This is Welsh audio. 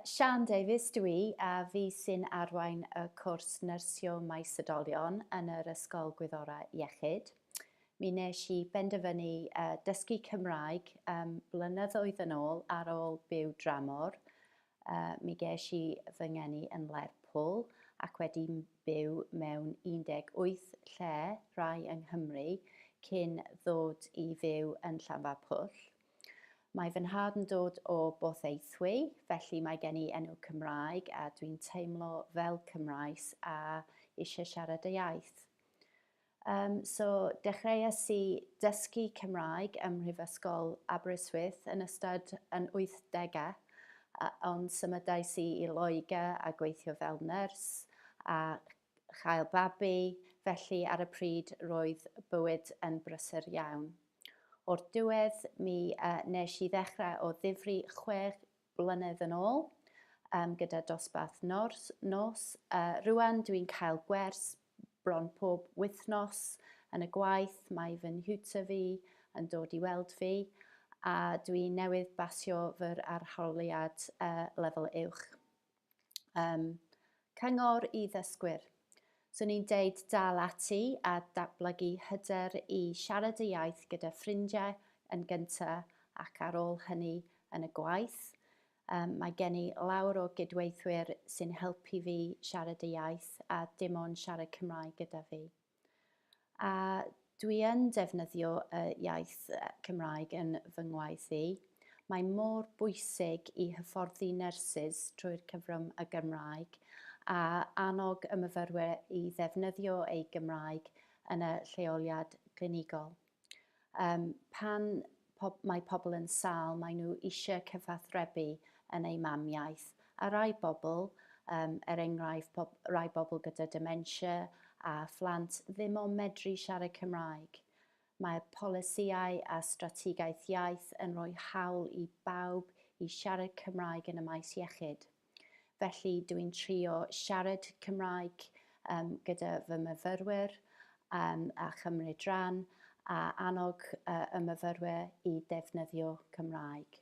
Siân Davies dw i a fi sy'n arwain y cwrs Nyrsio Maes Oedolion yn yr Ysgol Gwyddorau Iechyd. Mi wnes i benderfynu dysgu Cymraeg blynyddoedd yn ôl ar ôl byw dramor. Mi ges i fy ngeni yn Lerpwl ac wedi byw mewn 18 lle, rhai yng Nghymru, cyn ddod i fyw yn Llanfairpwll. Mae fy nhad yn dod o Borthaethwy, felly mae gen i enw Cymraeg a dwi'n teimlo fel Cymraes a eisiau siarad y iaith. Um, so, dechreuais i dysgu Cymraeg ym Mhrifysgol Aberystwyth yn ystod yn 80au, ond symudais i i Loegr a gweithio fel nyrs a chael babi, felly ar y pryd roedd bywyd yn brysur iawn. O'r diwedd, mi nes i ddechrau o ddifri chwe blynedd yn ôl, um, gyda dosbarth nos. nos. Uh, rwan dwi'n cael gwers bron pob wythnos yn y gwaith, mae fy nhiwtor fi yn dod i weld fi, a dwi newydd basio fy arholiad uh, lefel uwch. Um, cyngor i ddysgwyr. Swn i'n deud dal ati a datblygu hyder i siarad y iaith gyda ffrindiau yn gyntaf ac ar ôl hynny yn y gwaith. Um, mae gen i lawr o gydweithwyr sy'n helpu fi siarad y iaith a dim ond siarad Cymraeg gyda fi. A dwi yn defnyddio y iaith Cymraeg yn fy ngwaith i. Mae mor bwysig i hyfforddi nyrsys trwy'r cyfrwng y Gymraeg a annog y myfyrwyr i ddefnyddio eu Gymraeg yn y lleoliad glinigol. Yym, pan pob, mae pobl yn sâl, maen nhw eisiau cyfathrebu yn eu mamiaith. A rai bobl, um, er enghraifft pob, rai bobl gyda dementia a phlant ddim o'n medru siarad Cymraeg. Mae polisïau a strategaeth iaith yn rhoi hawl i bawb i siarad Cymraeg yn y maes iechyd. Felly dw i'n trio siarad Cymraeg um, gyda fy myfyrwyr um, a chymryd rhan a annog uh, y myfyrwyr i ddefnyddio Cymraeg.